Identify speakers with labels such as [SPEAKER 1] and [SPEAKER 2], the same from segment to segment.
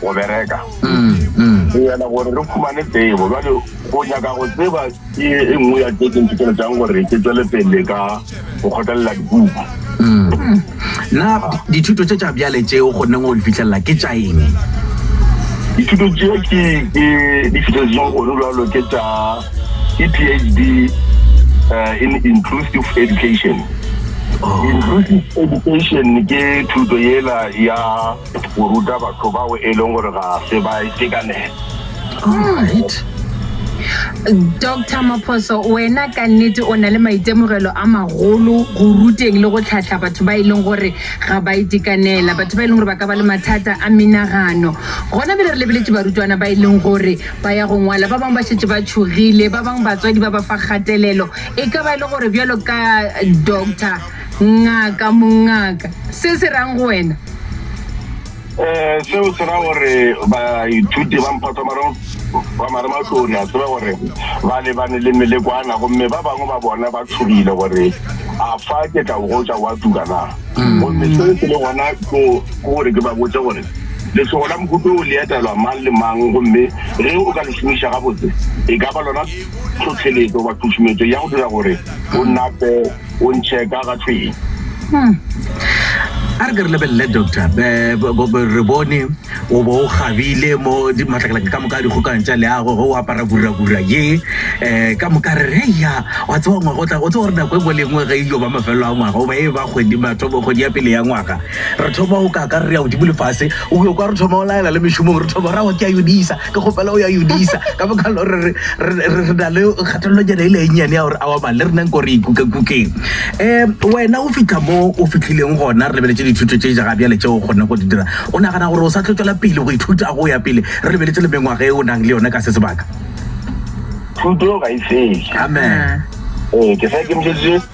[SPEAKER 1] go bereka go yela gore re khumane tsebo jale go nyaka go tseba ke e nngwe ya tse ke nthoteletšang gore ke tswele pele ka go kgotlelela dibuka na dithuto tše tša bjale tšeo go neng go di fitlhelela ke tša eng dithuto tšeo ke ke di fitlheletseng gone jalo ke tša ke phd eh, in inclusive education oh. inclusive education ke thuto yela ya Go ruta batho bao e leng gore ga se ba itekanela. Doctor Maphoso, wena ka nnete o na le maitemogelo a magolo go ruteng le go tlhatlha batho ba e leng gore ga ba itekanela batho ba e leng gore ba ka ba le mathata a menagano gona bele re lebeletse barutwana ba e leng gore ba ya go ngwala ba bangwe ba šetse ba tšhogile ba bangwe batswadi ba ba fa kgatelelo e ka ba e le gore bjalo ka doctor Ngaka, Mongaka, se se rang go wena? Eh, seo se ra gore baithuti ba mphotomaro ba marematlori a tseba gore ba lebane le melekwana gomme ba bangwe ba bona ba tshogile gore a fa ke tla o gotsa wa tuka na mm. gomme seo se le gona ko gore ke ba botse gore letsogo la mohuto o le etelwa mang le mang gomme ge o ka le šomiša gabotse e ka ba lona tlhotlheletso wa tšhušumetso ya go dira gore o nape o ntšheka ga tlweng hmm. a re ke re lebelele doctor re bone o bo o gabile mo matlakalatlaka ka moka a dikgokang tša leago ge o apara kuragura ye um ka moka re re ya wa tseba ngwaga o tla o tseba gore nako e ngwe le engwe ge iyo ba mafelelo a ngwaga goba e ba kgwedi ya pele ya ngwaga re thoma o kaka re ya godimo lefase o yo kwa re thoma o laela le mešomong re thoma ra wa ke a yodisa Ke kgopela go ya Yudisa ka baka la gore re na le kgatelelonyana e le e nnyane ya gore awa mang le rena nko re ikukekukeng um wena o fitlha mo o fitlhileng gona re lebeletse dithuto tse jaga bjale tse o kgonne go di dira o nagana gore o sa tlo tswela pele go ithuta go ya pele re lebeletse le mengwaga e o nang le yone ka se sebaka thuto ga e fele amen ee ke sa ikemišeditše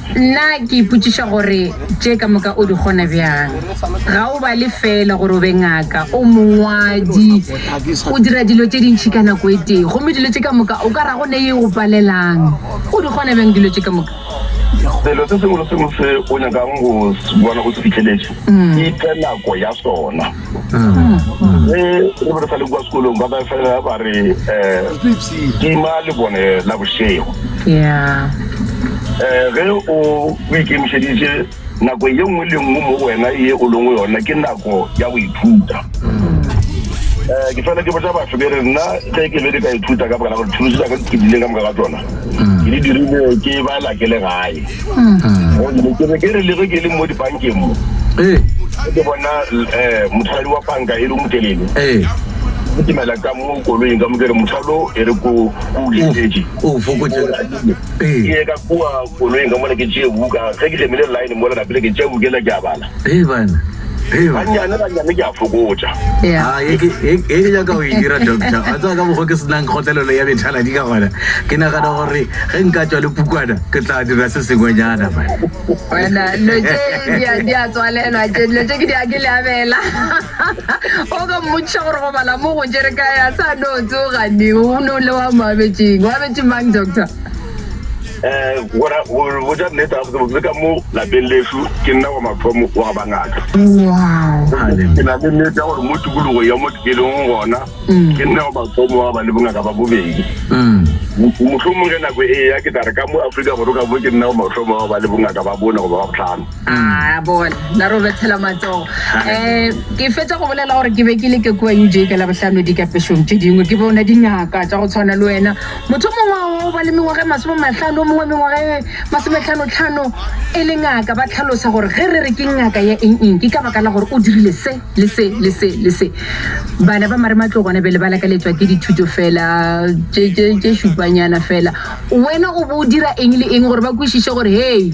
[SPEAKER 1] Nna ke ipotšiša gore tše ka moka o di kgona bjang. Ga o bale feela gore o be ngaka, o mongwadi, o dira dilo tše dintši ka nako e tee, gomme dilo tše ka moka o ka ra go ne e go palelang. O di kgona bjang dilo tše ka moka? Selo se sengwe le se sengwe se o nyakago go se bona o se fihleletše, iphe nako ya sona. ge re be re sa le kwa sekolong ba ba fela ba re um tima lebone la bošego um ge o ikemišeditše nako ye nngwe le nngwe mo wena ye o lengwe yona ke nako ya go ithuta um ke fela ke botsa batho ke re nna ge ke be ke ka ithuta ka baka la gore thulosi tsaka di phedileng ka moka ga tsona ke di dirile ke ba lakele gae gonne ke be ke re lege ke le mo dibankeng mo ee ke bona um eh, motlhadi wa banka e re motelele ee ke timela ka mo koloing ka mo ke re motlhalo e re ko ko o letetse o fokotše ke ee ye ka kua koloing ka mona ke tšee buka ge ke gemile line mola napele ke tšea bukela ke a bala Hey bana. Hey bana. Banyane banyane ke a fokotša. Yeah. Ah, ye ke ye ke nyaka go e dira doctor. A tswa ka bogo ke senang kgotlelelo ya bethala di ka gona. Ke nagana gore ge nka tswa le pukwana ke tla dira se sengwenyana bana. Bana no tše di a di a tswalelwa tše no tše ke di a ke le abela. O ka mmotšiša gore go bala mo go tšere ka ya sa no tsoga ni o no le wa mo abetšeng. Wa abetše mang doctor? um gona go botša nnete gabotse botse ka mo lapeng lešu ke nna wa mathomo wa go ba ngaka ke na le nnete ya gore mo tikologo ya mo ke leng gona mm. ke nna wa mathomo wa go ba le bongaka ba bobedi mm. mohlomong ge nako e ya ke tla re ka mo aforika borwa ka bo ke nna wa mathomo wa go ba le bongaka ba bone goba ba botlhano a bona la ro bethela matsogo um ke fetsa go bolela gore ke be ke le ke kua uj ka labotlhano dikapešong tse dingwe ke bona dingaka tsa go tshwana le wena Motho o mongwe wa bao ba le mengwaga e masome mahlano, o mongwe wa mengwaga e masometlhano-tlhano, e le ngaka, ba tlhalosa gore ge re re ke ngaka ya eng-eng, ke ka baka la gore o dirile se le se le se le se. Bana ba marematlou gona bjale ba lakaletšwa ke dithuto feela tše šupanyana feela. Wena o bo o dira eng le eng gore ba kwešiše gore, hei,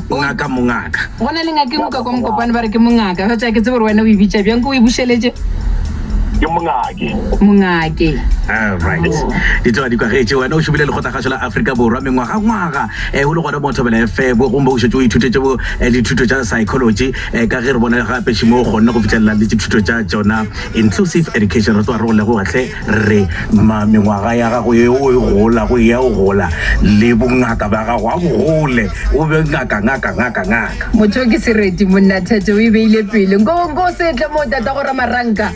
[SPEAKER 1] Ngaka, mongaka. Go na le ngaka engwe ka kwa mokopane ba re ke mongaka. Ga tša ke tsebe gore wena o e bitša bjang, ko o e bušeletše. Ke mongake. Mongake. All right. Di tloga di kwagetše. Wena o šomile lekgotlakgašo la Afrika Borwa mengwagangwaga eh, o le gona mo Thobela FM, gomme o šetše o ithutetše bo eh, dithuto tša psychology eh, ka ge re bona gape šimo o kgonne go fitlhelela le dithuto tša tšona inclusive education. Re tloga re go leboga hle. Rre, mma, mengwaga ya gago yeo e gola go eya o gola, le bongaka bja gago a bo gole, o be ngaka, ngaka, ngaka, ngaka. Motho, Ke sereti, monna. Thete o e beile pele. Nko, nko se tle mo, tatago Ramaranka.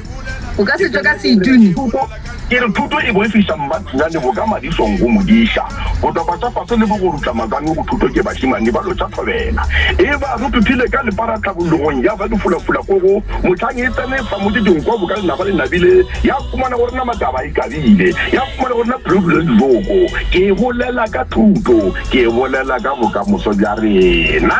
[SPEAKER 1] O ka se tšwe ka seituni. Thuto, Ke re thuto e boifiša mmatsinyane boka madišong go modiša. Botopa tša fase le bogorutla matswami go thuto ke bašemane ba lotšathobela. Eba re tuthile ka lepara tlhabologong ya ba difulafula ko go. Mohlang e tsene fa motse Dinko boka le naba le nabile, ya fumana gore nama taba e kabile, ya fumana gore na pelo dule dijoko. Ke bolela ka thuto, ke bolela ka bokamoso bja rena.